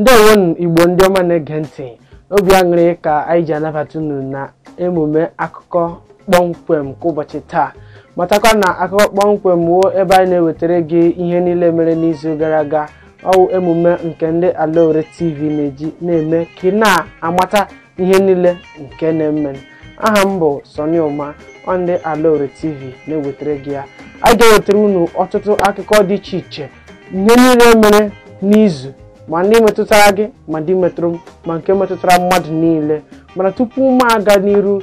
ndewonụ igbo ndị ọma na-ege ntị obi aṅụrị ka anyị ji anabata unu na emume akụkọ kpọmkwem nke ụbọchị taa matakwa na akụkọ kpọmkwem wụ ebe anyị na-ewetara gị ihe niile mere n'izu gara aga ọ wụ emume nke ndị alaore tv na-eji na-eme ka ị na-amata ihe niile nke na-eme aha m bụ Sọnị Ụma ọ ndị alaore tv na-ewetara gị ya anyị ga-ewetara unu ọtụtụ akụkọ dị iche iche ihe niile mere n'izu ma ndị metụtara gị ma ndị metụrụ m ma nke metụtara mmadụ niile mana tupu m aga n'iru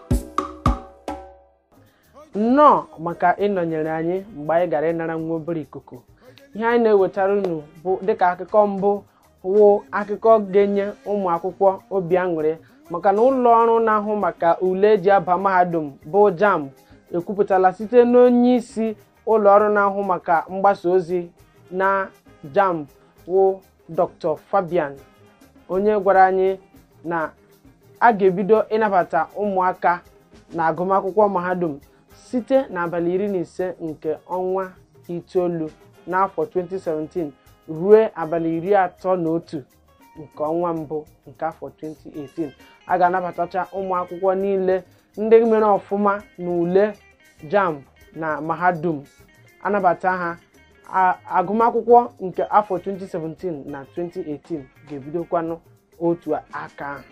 nnọọ maka ịnọnyere anyị mgbe anyị gara ịnara nwa obere ikuku ihe anyị na-ewetara unu bụ dịka akụkọ mbụ wụ akụkọ ga-enye ụmụ akwụkwọ obi aṅụrị maka na ụlọ ọrụ na-ahụ maka ule eji aba mahadum bụ JAMB ekwupụtala site n'onye isi ụlọ ọrụ na-ahụ maka mgbasa ozi na jamb wụ dr fabian onye gwara anyị na a ga-ebido ịnabata ụmụaka na agụmakwụkwọ mahadum site n'abalị iri na ise nke ọnwa itoolu n'afọ 2017 ruo abalị iri atọ na otu nke ọnwa mbụ nke afọ 2018 a ga-anabatacha ụmụ akwụkwọ niile ndị mere ọfụma na ule jamb na mahadum anabata ha agụmakwụkwọ nke afọ 2017 na 2018 ga-ebidokwanụ otu aka ahụ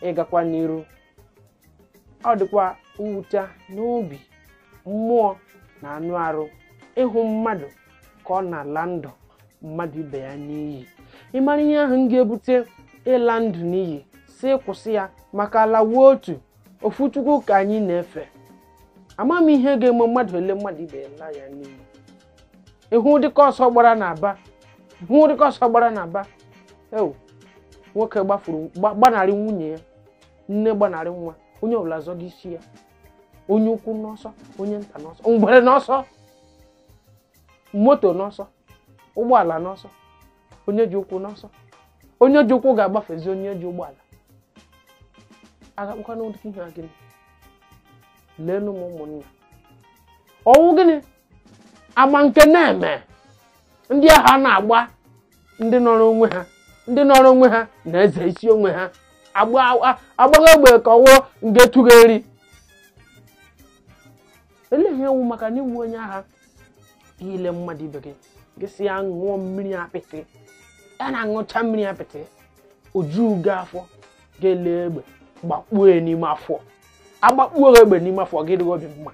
ị gakwa n'iru ọ dịkwa mwute n'obi mmụọ na anụ arụ ịhụ mmadụ ka ọ na-ala ndụ mmadụ ibe ya n'iyi ị mara ihe ahụ ga-ebute ịla ndụ n'iyi sị kwụsị ya maka ala wụ otu ofu chukwu ka anyị na-efe ama m ihe ga-eme mmadụ elee mmadụ ibe ya laa ya n'iyi ị hụ dịka ọsọ gbara n'aba hụ dịka ọsọ gbara n'aba ewu nwoke gbafuru gba- gbanarị nwunye ya nne gbanarị nwa onye ọbụla zọga isi ya onye ukwu n'ọsọ onye nta n'ọsọ ngwere n'ọsọ moto n'ọsọ ụgbọala n'ọsọ onye ji ụkwụ n'ọsọ onye ji ụkwụ ga-agbafezi onye ji ụgbọala a ga-akpọkwanụ ụdị ihe a gịnị leenụ m ụmụnna ọ wụ gịnị ama nke na-eme ndị agha na-agba ndị nọrọ onwe ha ndị nọrọ onwe ha na-eze isi onwe ha agba- agbaghị egbe ka ọ wụ nke tụgheri ele ihe ọ wụ maka na ị wụ onye agha ile mmadụ ibe gị gị si ya ṅụọ mmiri apịtị ya na-aṅụcha mmiri apịtị o ju gị afọ ga-ele egbe gbakpuo ya n'ime afọ a gbakpuo gị egbe n'ime afọ ga ịdị gị obi mma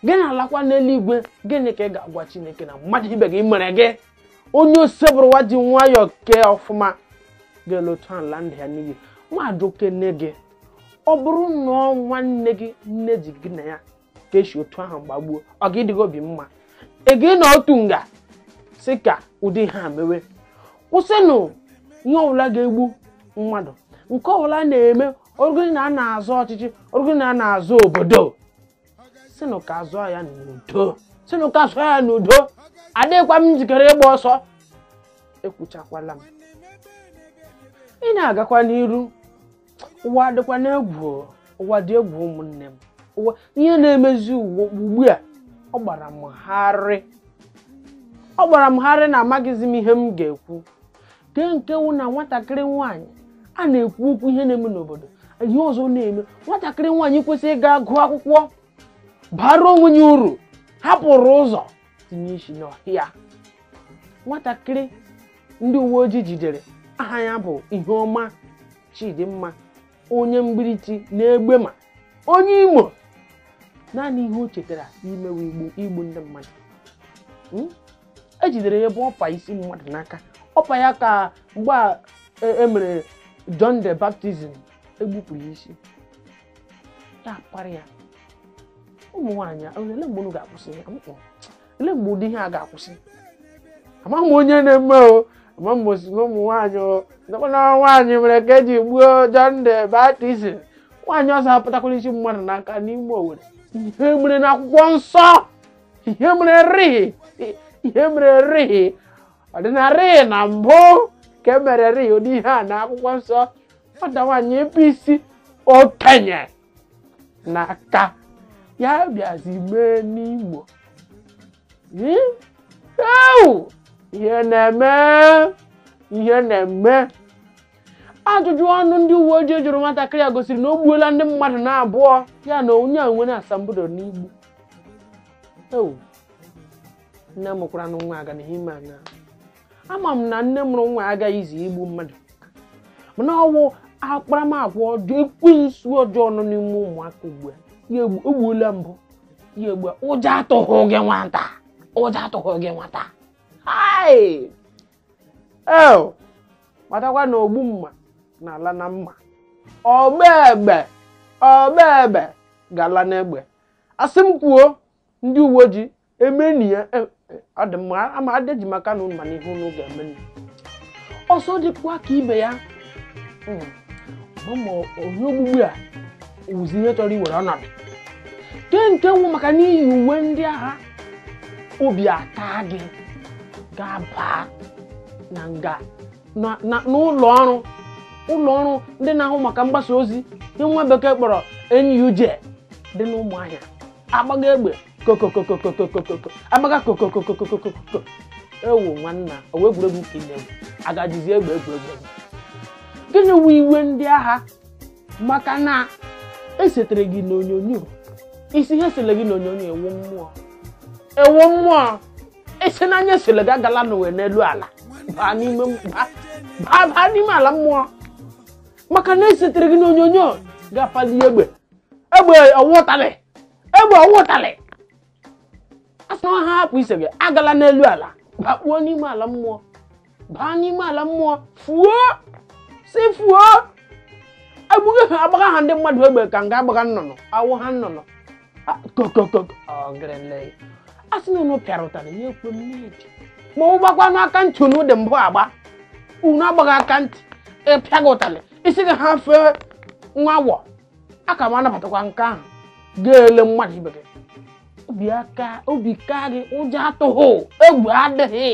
gị na-alakwa n'eluigwe gịnị ka ị ga-agwa chineke na mmadụ ibe gị mere gị onye osebụrụwa ji nwayọọ kee ọfụma ga-ele otu ahụ laa ndụ ya n'iyi mmadụ kene gị ọ bụrụ na ọ nwanne gị nne ji gị na ya ka e si otu ahụ gbagbuo ọ ga ịdị gị obi mma ị ga ịnọ otu nga sị ka ụdị ihe a mewe kwụsịnụ ihe ọbụla ga-egbu mmadụ nke ọbụla na-eme o rugodi na a na-azọ ọchịchị o rugodi na a na-azọ obodo sịnụ ka a zọọ ya n'udo sịnụ ka a zọọ ya n'udo adịghịkwa m njikere ịgba ọsọ ekwuchakwala m ihe na-agakwa n'iru ụwa dịkwanụ egwu ụwa dị egwu ụmụnne m ụwa ihe na-emezi ụwa ugbu a ọ gbara m gharịị ọ gbara m gharịị na amaghịzi m ihe m ga-ekwu kee nke wụ na nwatakịrị nwaanyị a na-ekwu okwu ihe na-eme n'obodo ihe ọzọ na-eme nwatakịrị nwaanyị kwesịrị ịga gụọ akwụkwọ baara onwe ya uru hapụrụ ụzọ tinye isi n'ọhịa nwatakịrị ndị uwe ojii jidere aha ya bụ Iheọma Chidimma onye Mgbirichi n'Egbema onye Imo naanị ihe o chetara imewe bụ igbu ndị mmadụ Hmm? e jidere ya ebe ọ pa isi mmadụ n'aka ọ pa ya ka mgbe a e- e mere John the baptism e gbupụrụ ya isi ya apara ya ụmụ nwaanyị a, olee mgbe unu ga-akwụsị ya Mm-mm. ele mgbe ụdị ihe a ga-akwụsị amaghị m onye na-eme o ama m ozugbo ụmụ nwaanyị o ndekwana nwaanyị mere ka e ji gbuo John the baptism nwaanyị ọzọ apụtakwala isi mmadụ n'aka n'ime Owerri ihe mere na akwụkwọ nsọ ihe mere rịị ihe mere rịị ọ dịnarịị na mbụ ka e mere rịị ụdị ihe a na akwụkwọ nsọ nwata nwaanyị ebe isi okenye n'aka ya bịazi mee n'Imo Hmm? Ewu! ihe na-eme ihe na-eme ajụjụ ọnụ ndị uwe ojii jụrụ nwatakịrị a gosiri na o gbuola ndị mmadụ na abụọ ya na onye a nwere asambodo n'igbu ewu nne mụkwara nwa aga na ihe ime anya ama m na nne mụrụ nwa agaghị izi igbu mmadụ mana ọwụ akparamagwa ọjọọ ekwensu ọjọọ nọ n'ime ụmụaka ugbu a ya egbu- egbuola mbụ ya egbu ụjọ atụghị gị nwata ụjọ atụghị gị nwata hai matakwa na ogbu mma na-ala na mma ọgba egbe ọgba egbe ga-ala n'egbe asị m kwuo ndị uwe ojii emeni ya e- e- ọ dị mma ama adịghị maka na unu mana ihe unu ga-emeni ọzọ dịkwa ka ibe ya Mm. Ọ ma onye ogbugbu a wụzi ihe chọrọ iwere ọnọdụ ke nke wụ maka n'ihi iwe ndị agha obi ata gị ga-aba na nga na- na- n'ụlọ ọrụ ụlọ ọrụ ndị na-ahụ maka mgbasa ozi ihe nwa bekee kpọrọ NUJ dị n'Ụmụahịa agbaga egbe kokokokokokokoko agbaga kokokokokokoko ewu nwanna ọwụ egwuregwu ka inye agajizi egbe egwuregwu gịnị wụ iwe ndị agha maka na esetere gị n'onyonyo ị sị ya esela gị n'onyonyo ị wụ mmụọ ị wụ mmụọ ị sị na ya esela gị agala n'ụwa n'elu ala baa n'ime baa n'ime ala mmụọ maka na esetere gị n'onyonyo gị apalie egbe egbe ọwụ ụtalị egbe ọwụ ụtalị a sị na ha hapụ ise gị agala n'elu ala bakpuo n'ime ala mmụọ baa n'ime ala mmụọ fuo si fuo egbughị ha agbagha ha ndị mmadụ egbe ka nga agbagha nnụnụ awụ ha nnụnụ A- kokoko ọgịrịle a sị na unu pịara ụtarị ya ekwe m n'idi ma ọwụ gbakwanụ aka ntị unu dị mbụ agba unu agbaghị aka ntị ịpịa gị ụtarị ịsị gị ha fee nwa awọ a ka m anabatakwa nke ahụ gị ele mmadụ ibe gị obi aka obi ka gị ụjọ atụghị egwu adịghị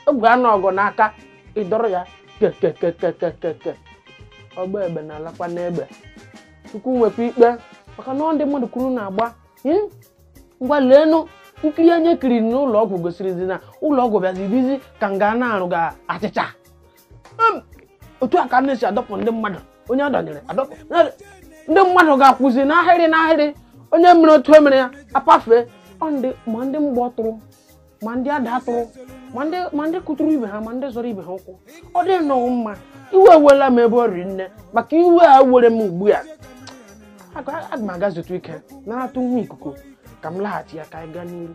egwu anụ ọgụ n'aka ị dọrọ ya kekekekekekeke ọgba egbe na-alakwa n'egbe chukwu nwekwa ikpe maka na ọ ndị mmadụ ka unu na-agba Hmm ngwa leenụ nkiri anyị kiriri n'ụlọ ọgwụ gosirizi na ụlọ ọgwụ bịazi dịzi ka nga na-arụ ga achịcha otu a ka a na-esi adọpụ ndị mmadụ onye adọnyere adọpụ ndị mmadụ ga-akwụzi n'ahịrị n'ahịrị onye mere otu emere ya apafee ma ndị mgbọ tụrụ ma ndị ada atụrụ ma ndị kụtụrụ ibe ha ma ndị zọrọ ibe ha ụkwụ ọ dị nnọọ mma iwe ewela m ebe o riri nne maka iwe a were m ugbu a aga m aga zutụ ike naratụ nwa ikuku ka m laghachia ka anyị gaa n'iru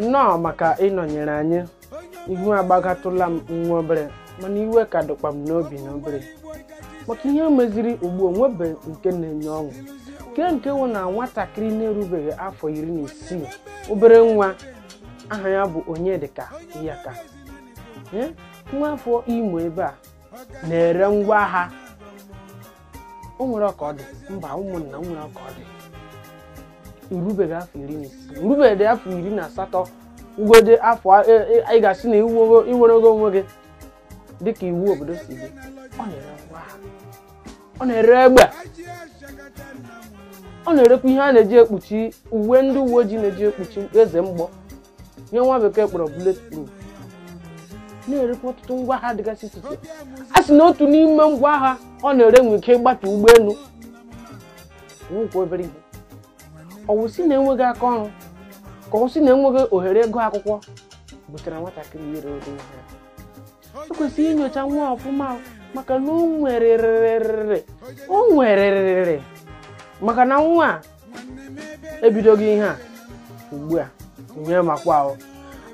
nnọọ maka ịnọnyere anyị ihu agbagatụla m nwa obere mana iwe ka dịkwa m n'obi na obere maka ihe meziri ugbu a o nwebe nke na-enye ọṅụ nke nke wụ na nwatakịrị na-erubeghị afọ iri na isii obere nwa aha ya bụ onyedịka iyaka Eh, nwa afọ imo ebe a na-ere ngwa agha o nwere ọka ọ dị mba ụmụnna o nwere ọka ọ dị na-erubeghị afọ iri na isii na-erubeghị afọ iri na asatọ wụgodi afọ a- e- e- anyị ga-asị na iwu i nwerego onwe gị dịka iwu obodo si dị ọ na-ere ngwa agha. ọ na-ere egbe ọ na-erekwa ihe a na-eji ekpuchi uwe ndị uwe ojii na-eji ekpuchi eze mgbọ ihe nwa bekee kpọrọ bulletproof na-erekwa ọtụtụ ngwa agha dịgasị iche iche a sị na otu n'ime ngwa agha ọ na-ere nwere ike ịgbatu ụgbọelu ọwụkwa obere ihe ọwụ sị na enweghị aka ọrụ ka ọwụ sị na enweghị ohere ịgụ akwụkwọ butere nwatakịrị ire ụdị ihe a. e kwesịrị inyocha nwa a ọfụma maka na o nwererịrị o nwererịrị maka na nwa a ebidoghị ihe a ugbu a ihe m makwa ahụ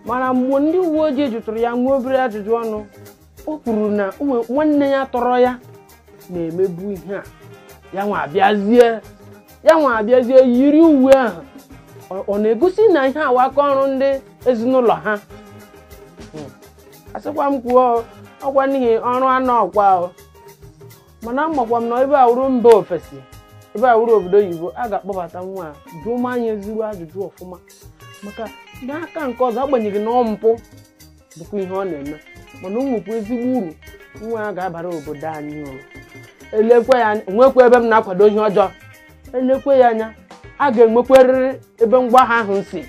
mana mgbe ndị uwe ojii jụtụrụ ya nwa obere ajụjụ ọnụ o kwuru na nwa- nwanne ya tọrọ ya na-emebu ihe a ya nwa abịazie ya nwa abịazie yiri uwe ahụ Ọ- ọ na-egosi na ihe a wụ aka ọrụ ndị ezinụlọ ha Hmm. asịkwa m kwuo ọkwa n'ihi ọrụ anọ ọkwa o. mana amakwa m na ebe a wụrụ mba ofesi ebe a wụrụ obodo oyibo a ga-akpọbata nwa a jụma ya ezigbo ajụjụ ọfụma maka n'aka nke ọzọ agbanyeghị na ọ mpụ bụkwa ihe ọ na-eme mana o nwekwa ezigbo uru nwa a ga-abara obodo anyị uru elekwe ya anya nwekwa ebe m na-akwado ihe ọjọọ elekwe ya anya a ga-enwekwarịrị ebe ngwa agha ahụ si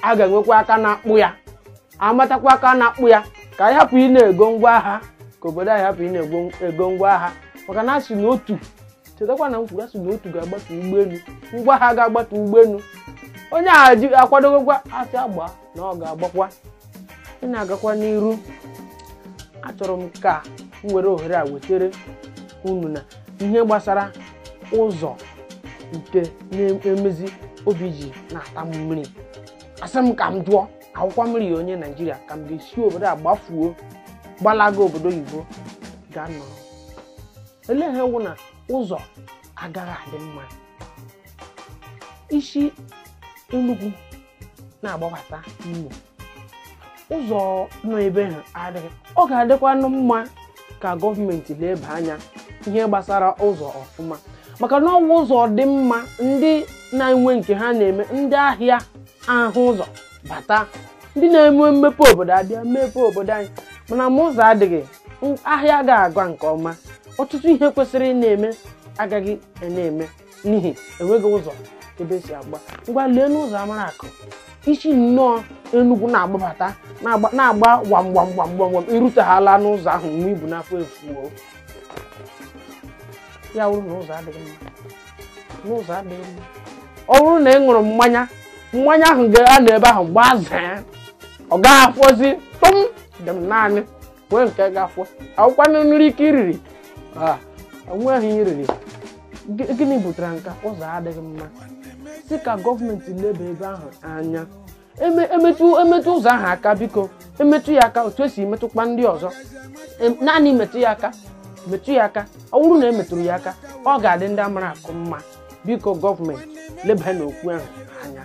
a ga-enwekwa aka na-akpụ ya amatakwa aka na-akpụ ya ka anyị hapụ ị na-ego ngwa agha ka obodo anyị hapụ ị na-ego ego ngwa agha maka na asị na otu chetakwa na m kwuru asị na otu ga-agbatu ụgbọelu ngwa agha ga-agbatu ụgbọelu onye a ji akwadogokwa asị gbaa na ọ ga-agbakwa ị na-agakwa n'iru achọrọ m ka m were ohere a wetere unu na ihe gbasara ụzọ nke na-emezi obi ji na-ata m mmiri asị m ka m jụọ awụkwa m rị onye naijiria ka m ga-esi obodo a gbafuo gbalaga obodo oyibo gaa nọrọ olee ihe wụ na ụzọ agaghị adị mma ị si Enugu na-agbabata Imo ụzọ nọ ebe ahụ adịghị ọ ga-adịkwanụ mma ka gọọmenti leba anya ihe gbasara ụzọ ọfụma maka na ọwụ ụzọ dị mma ndị na-enwe nke ha na-eme ndị ahịa ahụ ụzọ bata ndị na-eme mmepe obodo abịa mepe obodo anyị mana ma ụzọ adịghị m- ahịa agaghị aga nke ọma ọtụtụ ihe kwesịrị ị na-eme agaghị ị na-eme n'ihi enweghị ụzọ ebe esi agba ngwa leenụ ụzọ Amaraku i si nnọọ enugwu na-agbabata na-agba na-agba gbam gbam gbam gbam gbam irutahala n'ụzọ ahụ ihe i bu n'afọ efuo ya wụrụ na ụzọ adịghị mma n'ụzọ adịghị mma ọ bụrụ na ị ṅụrụ mmanya mmanya ahụ ga-anọ ebe ahụ gbazee ọ gaghị afọzi tụm dị m naanị nwee nke ga-afọ ọ wụkwanụ nri ike iriri Ah, o nweghị ihe iriri Gị- gịnị butere nka ụzọ adịghị mma sị ka gọọmenti leba ebe ahụ anya Eme- emetụ emetụ ụzọ ahụ aka biko emetụ ya aka otu esi metụkwa ndị ọzọ Em- naanị metụ ya aka metụ ya aka ọ bụrụ na emetụrụ ya aka ọ ga-adị ndị Amaraku mma biko gọọmenti leba n'okwu ahụ anya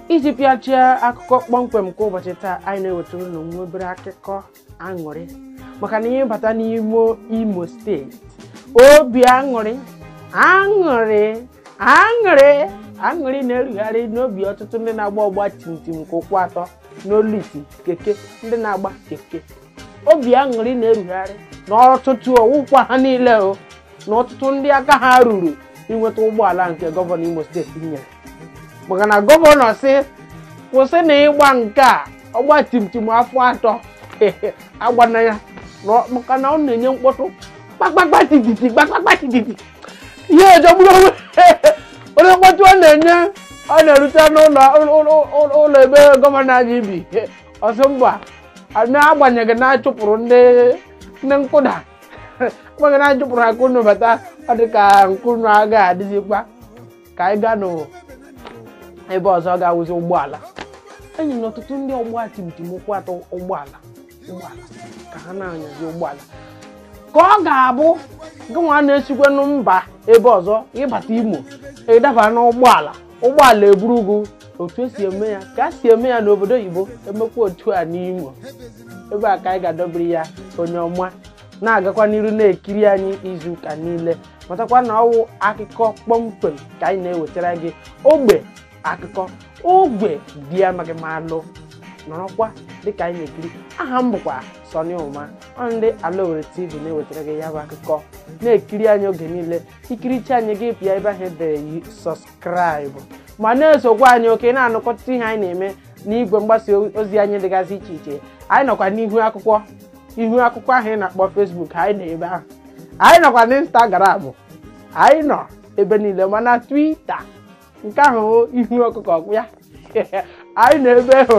iji pịachie akụkọ kpọmkwem nke ụbọchị taa anyị na-ewetara unu nwa obere akụkọ aṅụrị maka na ihe bata n'ime imo steeti obi aṅụrị aṅụrị aṅụrị aṅụrị na-erugharị n'obi ọtụtụ ndị na-agba ọgba tim tim nke ụkwụ atọ n'olu iti keke ndị na-agba keke obi aṅụrị na-erugharị na ọtụtụ ọwụkwa ha niile o na ọtụtụ ndị aka ha ruru inweta ụgbọala nke gọvanọ imo steeti nyere maka na gọvanọ sị kwụsịnụ ịgba nke a ọgba timtim afọ atọ agbana ya na- maka na ọ na-enye mkpọtụ kpakpakpa tititi kpakpakpa tititi ihe ejegburu onwe onye mkpọtụ ọ na-enye ọ na-erute n'ụlọ ụlọ- ụlọ ụlọ ebe gọvanọ anyị bi ọ sị mba n'agbanyeghị na achụpụrụ ndị ndị ọkada agbanyeghị na achụpụrụ ha ka unu bata ọ dị ka nke unu agaghị adịzikwa ka anyị gaanụ ebe ọzọ ga-awụzi ụgbọala enyena ọtụtụ ndị ọgba tim tim ụkwụ atọ ụgbọala ụgbọala ka ha na-anyazi ụgbọala ka ọ ga-abụ gị nwa na-esikwanụ mba ebe ọzọ ịbata imo ịdaba n'ụgbọala ụgbọala eburu gị otu esi eme ya ka a si eme ya n'obodo oyibo emekwa otu a n'imo ebe a ka anyị ga-adọbiri ya onye ọma na-agakwa n'iru na-ekiri anyị izu ụka niile matakwa na ọwụ akụkọ kpọmkwem ka anyị na-ewetara gị ogbe akụkọ ogbe dị amaghị m alụ nọrọkwa dịka anyị na-ekiri aha m bụkwa Sọnị Ụma ọ ndị Ala Owerri TV na-ewetara gị ya bụ akụkọ na-ekiri anyị oge niile ikiricha anyị gị pịa ebe ahụ edere sọskraịbụ ma na-esokwa anyị oke na-anụkọta ihe anyị na-eme n'igwe mgbasa ozi anyị dịgasị iche iche anyị nọkwa n'ihu akwụkwọ ihu akwụkwọ ahụ ị na-akpọ Facebook anyị nọ ebe ahụ anyị nọkwa n'Instagram anyị nọ ebe niile ma na Twitter nke ahụ ihu ọkụkọ kpu ya anyị nọ ebe ahụ